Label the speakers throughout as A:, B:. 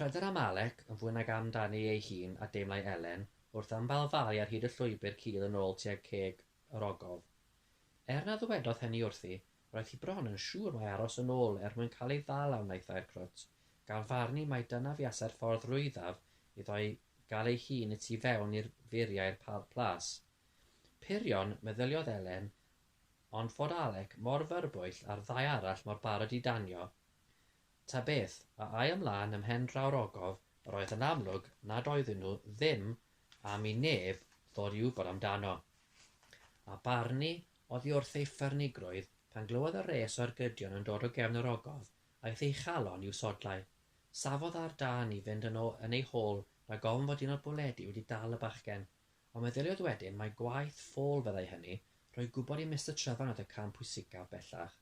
A: Pryder am Alec yn fwy nag am dani ei hun a deimlai Elen wrth ymbalfalu ar hyd y llwybr cudd yn ôl tuag ceg yr ogof. Er na ddywedodd hynny wrthi, roedd hi bron yn siŵr mai aros yn ôl er mwyn cael ei ddal a wnaethai'r crwt, gan farnu mai dyna fuasai'r ffordd rwyddaf iddo ei gael ei hun y tu fewn i'r furiau'r Parc Plas. Purion, meddyliodd Elen, ond fod Alec mor fyrbwyll a'r ddau arall mor barod i danio, Ta beth a ai ymlaen ym mhen draw'r ogof yr oedd yn amlwg nad oedden nhw ddim am i neb ddod i wybod amdano. A Barni oddi wrth ei ffyrnigrwydd pan glywodd y rhes o ergydion yn dod o gefn yr ogof, aeth ei chalon i'w sodlau. Safodd ar dân i fynd yn ôl yn ei hôl rhag ofn fod un o'r bwledi wedi dal y bachgen, ond meddyliodd wedyn mai gwaith ffôl fyddai hynny, rhoi gwybod i Mister Trefarn oedd y cam pwysicaf bellach.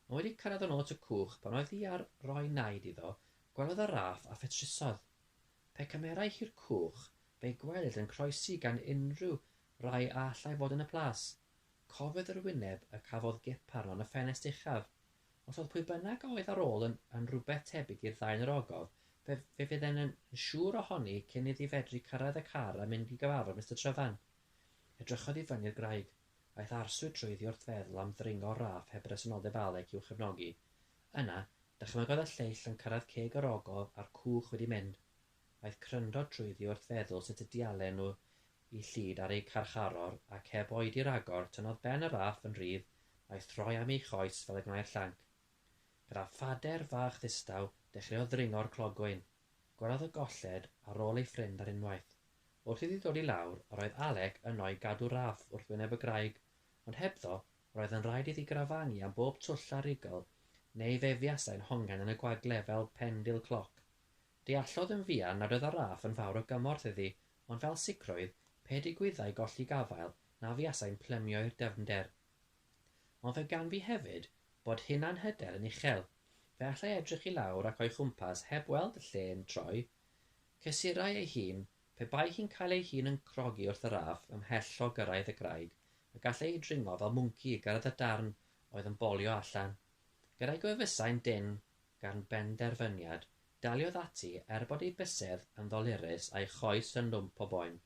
A: Ond wedi cyrraedd y nôt y cwch pan oedd hi ar roi naid iddo, gwelodd y raff a phetrusodd. Pe cymerai hi'r cwch, fe'i gwelid yn croesi gan unrhyw rai a allai fod yn y plas. Cofiodd yr wyneb y cafodd Gep arno yn y ffenest uchaf. Os oedd pwy bynnag a oedd ar ôl yn yn rhywbeth tebyg i'r ddau yn yr ogof, fe fe fydden yn yn siŵr ohoni cyn iddi fedru cyrraedd y car a mynd i gyfarfod Mister Tryfan. Edrychodd i fyny'r graig. Aeth arswyd drwyddi wrth feddwl am ddringo raff heb resymnoldeb Alec i'w chefnogi. Yna, dychmygodd y lleill yn cyrraedd ceg yr ogof a'r cwch wedi mynd. Aeth cryndro drwyddi wrth feddwl sut y diallen nhw i Llid ar eu carcharor ac heb oedi ragor, tynnodd ben y raff yn rhydd a'i throi am ei choes fel y gwnai'r llanc. Gyda phader fach ddistaw, dechreuodd ddringo'r clogwyn. Gwriodd y golled ar ôl ei ffrind ar unwaith. Wrth iddi ddod i lawr, yr oedd Alec yno i gadw raff wrth wyneb y graig, ond hebddo, yr oedd yn rhaid iddi grafangu am bob twll a rugl, neu fe fuasai'n hongen yn y gwagle fel pendil cloc. Deallodd yn fuan nad oedd y raff yn fawr o gymorth iddi, ond fel sicrwydd, pe digwyddai golli gafael, na fuasai'n plymio i'r dyfnder. Ond fe gan fi hefyd bod hunanhyder yn uchel. Fe allai edrych i lawr ac o'i chwmpas heb weld y lle'n troi. Cysurai ei hun, pe bai hi'n cael ei hun yn crogi wrth yr aff ymhell o gyrraedd y graig, y gallai hi dringo fel mwnci i gyrraedd y darn oedd yn bolio allan. Gyda'i gwefusau'n dynn gan benderfyniad, daliodd ati er bod ei bysedd yn ddolurus a'i choes yn lwmp o boen.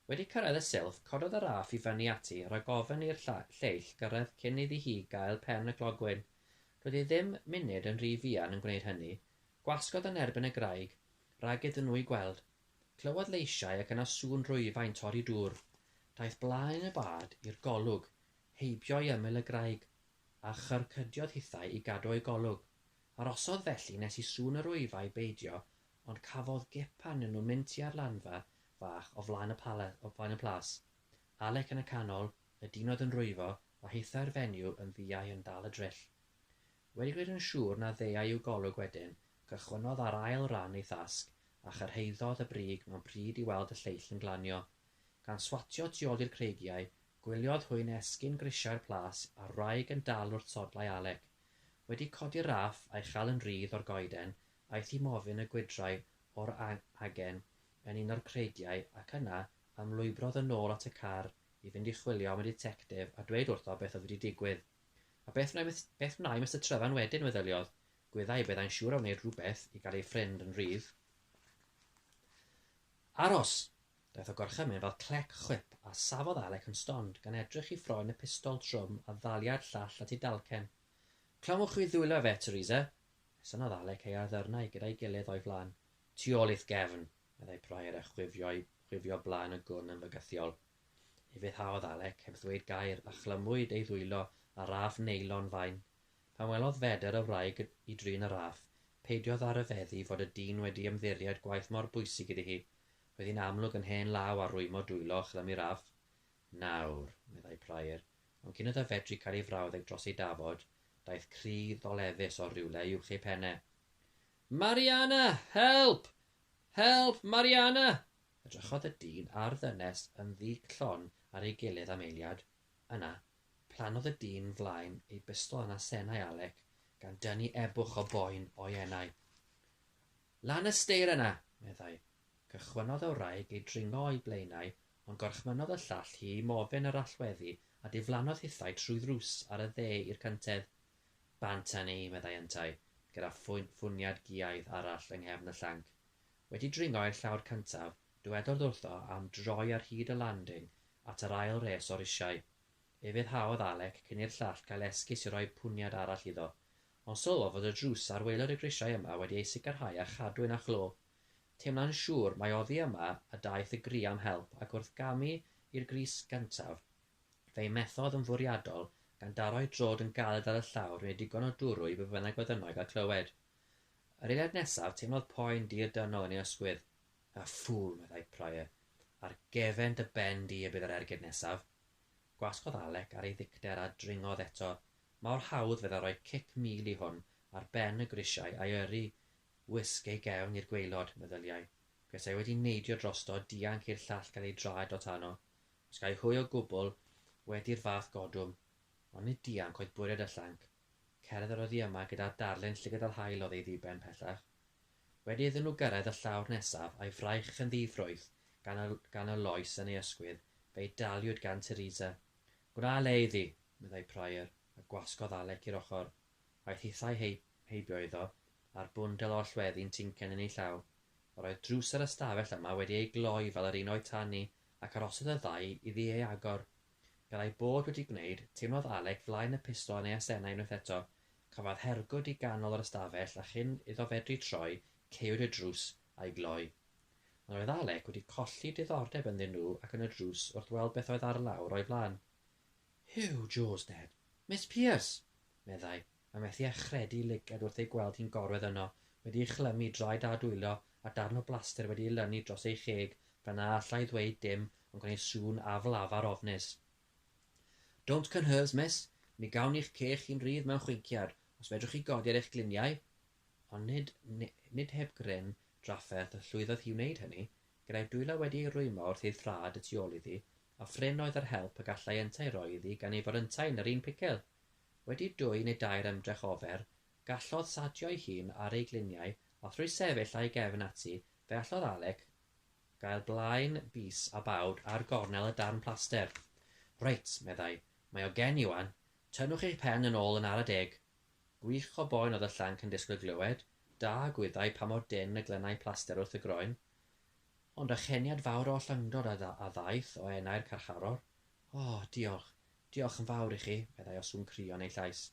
A: Wedi cyrraedd y silff, cododd y raff i fyny ati, rhag ofn i'r lleill gyrraedd cyn iddi hi gael pen y clogwyn. Doedd hi ddim munud yn rhy fuan yn gwneud hynny. Gwasgodd yn erbyn y graig, rhag iddyn nhw ei gweld. Clywodd leisiau ac yna sŵn rwyfau'n torri dŵr. Daeth blaen y bad i'r golwg, heibio i ymyl y graig, a chyrcydiodd hithau i gadw o'i golwg. Arosodd felly nes i sŵn y rwyfau beidio Ond cafodd gepan yn nhw mynd tua'r lanfa fach o flaen y plas. Alec yn y canol, y dyn oedd yn rwyfo, a hithau'r fenyw yn ddiau yn dal y dryll. Wedi gwneud yn siŵr na ddeuai i'w golwg wedyn, cychwynnodd ar ail ran ei thasg, a chyrhaeddodd y brig mewn pryd i weld y lleill yn glanio. Gan swatio tu ôl i'r creigiau, gwyliodd hwy nesgyn grisiau'r plas a'r wraig yn dal wrth sodlau Alec. Wedi codi'r raff, a'i chal yn rhydd o'r goeden, Aeth i mofyn y gwydrau o'r agen yn un o'r creigiau ac yna ymlwybrodd yn ôl at y car i fynd i chwilio am y ditectif a dweud wrtho beth oedd wedi digwydd. A beth wnai beth wnai Mister Tryfan wedyn, meddyliodd. Gwyddai y byddai'n siŵr o wneud rhywbeth i gael ei ffrind yn rhydd. Aros! Daeth o gorchymyn fel clec chwip a safodd Alec yn stond gan edrych i ffroen y pistol trwm a ddaliai'r llall at ei dalcen. Clywch fi ddwylo fe, Teresa? Synnodd Alec ei arddyrnau gyda'i gilydd o'i flan. Tu ôl i'th gefn! meddai Prior a chwifio'i chwifio blaen y gwn yn fygythiol. Ufuddhaodd Alec, heb ddweud gair, a chlymwyd ei ddwylo â raff neilon fain. Pan welodd Feder y wraig i drin y raff, peidiodd â rhyfeddu fod y dyn wedi ymddiried gwaith mor bwysig iddi hi. Roedd hi'n amlwg yn hen law ar rwymo dwylo a chlymu raff. Nawr, meddai Prior, ond cyn iddo fedru cael ei frawddeg dros ei dafod, Daeth cri ddoleddus o rywle uwch ei phen e. Mariana! Help! Help! Mariana! Edrychodd y dyn a'r ddynes yn ddi-glon ar ei gilydd am eiliad. Yna, plannodd y dyn flaen ei bistol yn asennau Alec, gan dynnu ebwch o boen o'i enau. Lan y steir yna! meddai. Cychwynnodd y wraig i dringo o'i blaenau, ond gorchmynnodd y llall hi i mofyn yr allweddi a diflannodd hithau trwy ddrws ar y dde i'r cyntedd. Bant â ni, meddai yntau, gyda ffwniad giaidd arall yng nghefn y llanc. Wedi dringo i'r llawr cyntaf, dywedodd wrtho am droi ar hyd y landing at yr ail res o risiau. Ufuddhaodd Alec cyn i'r llall gael esgus i roi pwniad arall iddo, ond sylwodd fod y drws ar waelod y grisiau yma wedi ei sicrhau â chadwyn a chlo. Teimlai'n siŵr mai oddi yma y daeth y gri am help ac wrth gamu i'r grys gyntaf, fe'i methodd yn fwriadol gan daro'i drod yn galed ar y llawr i wneud digon o dwrw i be bynnag oedd yno i gael clywed. Yr eiliad nesaf, teimlodd poen dir dynol yn ei ysgwydd. A ffŵl, meddai Pryor. Ar gefen dy ben di y bydd yr ergyd nesaf. Gwasgodd Alec ar ei ddicter a dringodd eto. Mor hawdd, fedda, roi cic mil i hwn ar ben y grisiau a'i yrru Wisg ei gefn i'r gwaelod, meddyliai, petai wedi neidio drosto, dianc i'r llall gael ei draed o tano, os gai hwy o gwbl, wedi'r fath godwm, ond nid dianc oedd bwriad y llanc, cerdd yr oddi yma gyda darlun llygad yr haul oedd ei ddiben pellach. Wedi iddyn nhw gyrraedd y llawr nesaf, a'i fraich yn ddi-ffrwyth gan y, gan y loes yn ei ysgwydd, fe'i daliwyd gan Teresa. Gwna le iddi! meddai Prior, a gwasgodd Alec i'r ochr. Aeth hithau heip, Heibio iddo, a'r bwndel o allweddi'n tincen yn ei llaw, yr oedd drws yr ystafell yma wedi ei gloi fel yr un o'i tan hi, ac arhosodd y ddau iddi ei agor. Gan ei bod wedi gwneud, teimlodd Alec flaen y pistol yn ei asennau unwaith eto, cafodd hergwd i ganol yr ystafell a chyn iddo fedru troi, caewyd y drws a'i gloi. Ond roedd Alec wedi colli diddordeb ynddyn nhw ac yn y drws wrth weld beth oedd ar lawr o'i flaen. Huw, Joe's dead! Miss Pierce! meddai, Mae methu â chredu lygad wrth ei gweld hi'n gorwedd yno, wedi ei chlymu, draed a dwylo, a darn o blaster wedi ei lynu dros ei cheg, fel na alla i ddweud dim ond gwneud sŵn aflafar ofnus. Don't can hers, miss. Mi gawn i'ch ceg chi'n rhydd mewn chwinciad, os fedrwch chi godi ar eich gliniau. Ond nid, nid heb gryn drafferth y llwyddodd hi i wneud hynny, gyda'i dwylo wedi ei rwymo wrth ei thraed y tu ôl iddi, a phrin oedd yr help y gallai yntau roi iddi gan ei fod yntau yn yr un picil! Wedi dwy neu dair ymdrech ofer, gallodd Sadio'i hun ar ei gliniau a thrwy sefyll â'i gefn ati fe allodd Alec gael blaen bys a bawd ar gornel y darn plaster. Reit, meddai, mae o gen i 'wan. Tynnwch eich pen yn ôl yn ara deg. Gwych o boen oedd y llanc yn disgwyl glywed, da gwyddai pa mor dynn y glynai plaster wrth y groen. Ond â cheniad fawr o ollyngdod a ddaeth o enau'r carcharor, O, diolch. Diolch yn fawr i chi, meddai o sŵn cry yn ei llais.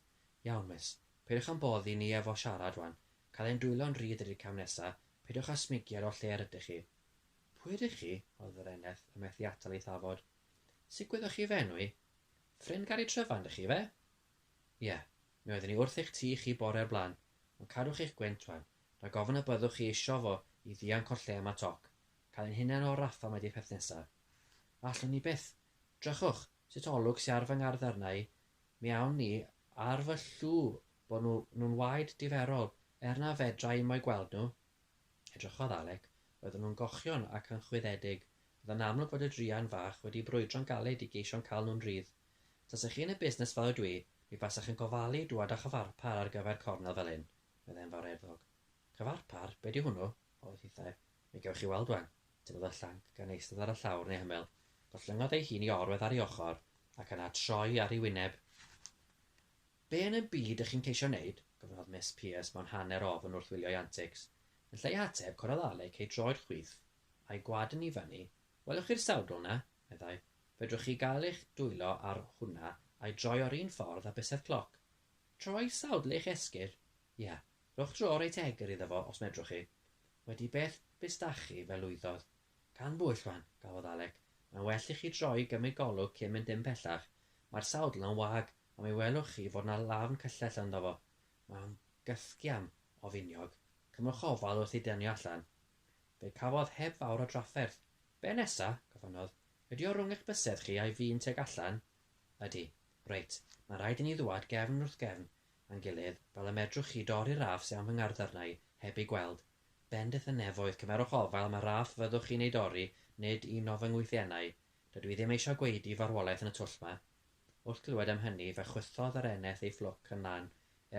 A: Iawn, Miss. Peidiwch â'n boddi ni efo siarad 'wan. Cael ein dwylo'n rhydd ydi'r cam nesa. Peidiwch â smygiad o lle yr ydych chi. Pwy ydych chi? oedd yr eneth yn methu atal ei thafod. Sut gwyddoch chi fy enw i? Ffrind Gari Tryfan 'dych chi 'fe? Ie. Mi oeddwn i wrth eich tŷ chi bore o'r blaen. Ond cadwch eich gwynt 'wan. Rhag ofn y byddwch chi isio fo i ddianc o'r lle yma toc. Cael ein hunain o'r rafa mae di peth nesa. Allwn ni byth. Drychwch, sut olwg sy ar fy ngarddyrnau, mi awn ni ar fy llw bo nhw nhw'n waed diferol, er na fedra i mo'i gweld nhw. Edrychodd Alec, roedden nhw'n gochion ac yn chwyddedig, oedd yn amlwg fod y druan fach wedi brwydro'n galed i geisio'n cal nhw'n rhydd. Tasech chi yn y busnes fel ydw i, mi fasech yn gofalu dŵad â chyfarpar ar gyfer cornel fel hyn, meddai yn fawreddog. Cyfarpar? Be di hwnnw? ofyn hithau. Mi gewch chi weld ŵan. Tynnodd y llanc gan eistedd ar y llawr neu hymyl, gollyngodd ei hun i orwedd ar ei ochr, ac yna troi ar ei wyneb. Be yn y byd ych chi'n ceisio wneud? gofynnodd Miss Pierce mewn hanner ofn wrth wylio'i antics. Yn lle ei hateb, corodd Alec ei droed chwith, a'i gwad yn ifani. Welwch chi'r sawdl 'na? meddai. Fedrwch chi gael eich dwylo ar hwnna a'i droi o'r un ffordd â bysedd cloc. Troi sawdl eich esgyrn? Ia. Rhowch dro reit egr iddo fo os medrwch chi. Wedi beth bistachi fe lwyddodd. Gan bwyll wan, gafodd Alec. Mae'n well i chi droi i gymryd golwg cyn mynd dim pellach. Mae'r sawdl yn wag, a mi welwch chi fod 'na lafn cyllell ynddo fo. Mae'n gythgiam o finiog. Cymrwch ofal wrth ei dynnu o allan. Fe cafodd heb fawr o drafferth. Be' nesa? gofynnodd. Ydi o rwng eich bysedd chi a'i fin tuag allan? Ydi. Reit, mae'n rhaid i ni ddwad gefn wrth gefn. A'n gilydd, fel y medrwch chi dorri'r raff sy am fy ngarddarnau, heb eu gweld. Bendith y nefoedd, cymerwch ofal am y raff fyddwch chi'n ei dorri, nid un o fy ngwythiennau. Dydw i ddim eisiau gwaedu farwolaeth yn y twll 'ma. Wrth glywed am hynny, fe chwythodd yr eneth ei fflwc yn lan,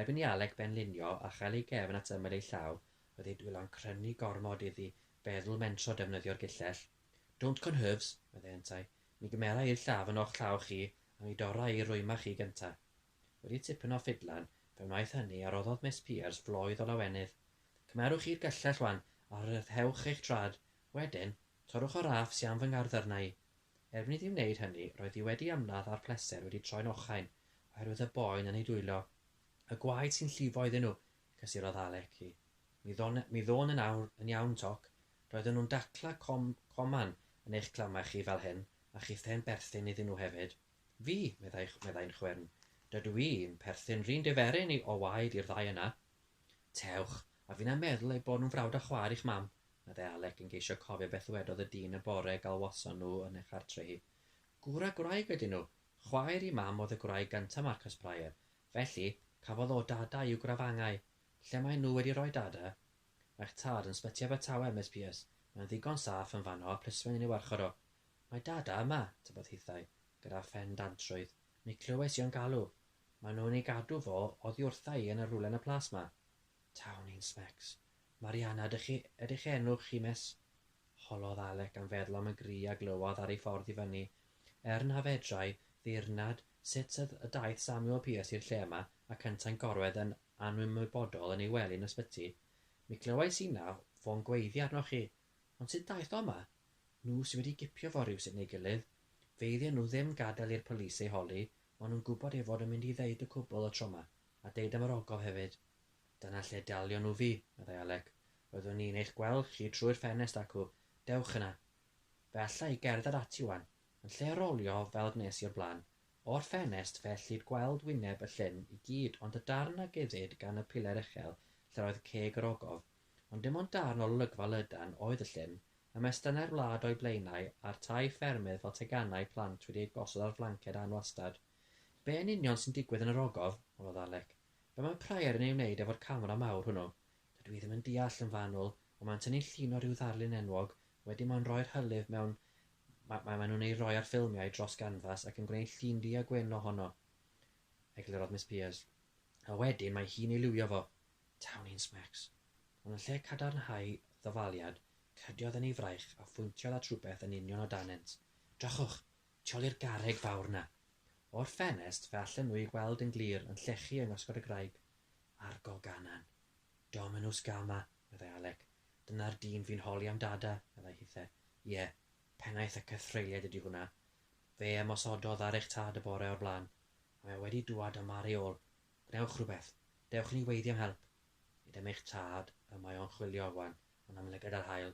A: erbyn i Alec benlinio a chael ei gefn at ymyl ei llaw, oedd ei dwylo'n crynu gormod iddi feddwl mentro defnyddio'r gillell. Don't conhurves! meddai yntau. Mi gymera i'r llaw yn o'ch llaw chi, a mi dorra i rwyma chi gynta. wedi tipyn o ffidlan, fe wnaeth hynny a roddodd Miss Peers floedd o lawenydd. Cymerwch chi'r gyllell wan, a rhyddhewch eich traed. Wedyn, torrwch y raff sy am fy ngardd arna i. Erbyn iddi wneud hynny, roedd hi wedi ymladd a'r pleser wedi troi'n ochain, oherwydd y boen yn ei dwyllo. Y gwaed sy'n llifo iddyn nhw! cysurodd Alec hi. Mi ddôn, mi ddôn yn awr, yn iawn, Toc. Roedden nhw'n dacla com, coman yn eich clamau chi fel hyn, a chithau'n berthyn iddyn nhw hefyd. Fi, meddai, meddai'n chwyrn, dydw i'n perthyn run diferyn i o waed i'r ddau yna. Tewch, a finna meddwl eu bod nhw'n frawd a chwaer i'ch mam, meddai Alec yn geisio cofio beth ddwedodd y dyn y bore galwason nhw yn ei chartre hi. Gŵr a gwraig ydyn nhw. Chwaer i mam oedd y gwraig gynta Marcus Prior. Felly, cafodd o dada i'w grafangau. Lle maen nhw wedi rhoi dada? Mae'ch tad yn sbyty Abertawe, Miss Pierce. Mae'n ddigon saff yn fanno a plismyn yn ei warchod o. Mae Dada yma! tybed hithau, gyda phen dantrwydd, mi clywais i o'n galw. Maen nhw'n ei gadw fo oddi wrtha i yn y rhwle yn y plas 'ma. Taw ni'n smecs! Mariana ydych chi, ydy'ch enw chi, miss? Holodd Alec gan feddwl am y gri a glywodd ar ei ffordd i fyny, er na fedrai ddeyrnad sut y daeth Samuel Pierce i'r lle yma ac yntau'n gorwedd yn anymwybodol yn ei wely yn ysbyty. Mi glywais inna fo'n gweiddi arnoch chi, Ond sut ddaeth o 'ma? Nhw sy wedi gipio fo rywsut neu gilydd. Feiddian nhw ddim gadael i'r police ei holi, maen nhw'n gwybod ei fod yn mynd i ddeud y cwbl y tro 'ma, a deud am yr ogof hefyd. Dyna lle dalion nhw fi, meddai Alec. Roeddwn i'n eich gweld chi trwy'r ffenest acw, dewch yna. Fe alla i gerdded ati 'wan. Yn lle rolio fel gwnes i o'r blaen. O'r ffenest fe ellid gweld wyneb y llyn i gyd ond y darn a guddid gan y piler uchel lle'r oedd ceg yr ogof, Ond dim ond darn o olygfa lydan oedd y llyn, ymestynnau'r wlad o'i blaenau, a'r tai ffermydd fel teganau plant wedi eu gosod ar flanced anwastad. Be' yn union sy'n digwydd yn yr ogof? honnodd Alec. Be' mae Prior yn ei wneud efo'r camera mawr hwnnw? Dydw i ddim yn deall, yn fanwl, ond mae'n tynnu llun o ryw ddarlun enwog, wedyn mae'n rhoi'r hylif mewn, ma, ma, maen nhw'n ei roi ar ffilmiau dros ganfas ac yn gwneud llun du-a-gwyn ohono, eglurodd Miss Peers. A wedyn mae hi'n ei liwio fo. Tawni'n smecs. Ond yn lle cadarnhau ddafaliad, cydiodd yn ei fraich a phwyntiodd at rywbeth yn union o danent. Drychwch! Tu ol i'r garreg fawr 'na! O'r ffenest, fe allen nhw'i gweld yn glir, yn llechu yng ngosgod y graig. Argo ganan. Dominws Gama! meddai Alec. Dyna'r dyn fu'n holi am Dada, meddai Hithe. Ie, pennaeth y cythreuliaid ydi hwnna. Fe ymosododd ar eich tad y bore o'r blaen, a mae o wedi dŵad yma ar ei ôl, Gwnewch rhywbeth! Dewch i ni weiddi am help! Nid am eich tad y mae o'n chwilio, wan, ond am lygad ar haul.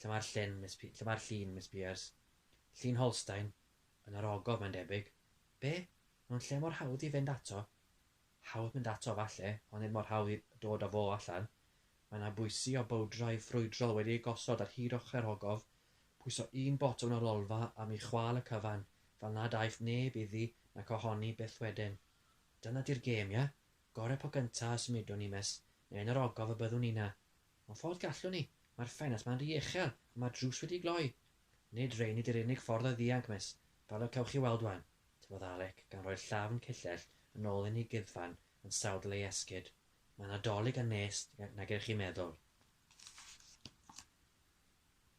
A: Lle mae'r llun, Miss P-? Lle mae'r llun, Miss Pearse? Llun Holstein? Yn yr ogof, mae'n debyg. Be? Mewn lle mor hawdd i fynd ato? Hawdd mynd ato, falle, ond nid mor hawdd i dod â fo allan. Mae yna bwysi o bowdrau ffrwydrol wedi eu gosod ar hyd ochrau'r ogof. Pwyso un botwm ar lolfa am i chwâl y cyfan, fel nad aeth neb iddi nac ohoni byth wedyn. Dyna di'r gêm, ia? Gore po gynta a symudwn ni mes, neu yn yr ogof y byddwn ni 'na. Ond fodd gallwn ni, mae'r ffenast 'ma'n ry uchel a mae'r drws wedi gloi. Nid rhein ydi'r unig ffordd o ddianc, Miss, fel y cewch chi weld 'wan, tybiodd Alec, gan roi'r llafn cyllell yn ôl yn ei guddfan yn sawdl ei esgid. Mae 'na dolig a nes nag ydych chi'n meddwl.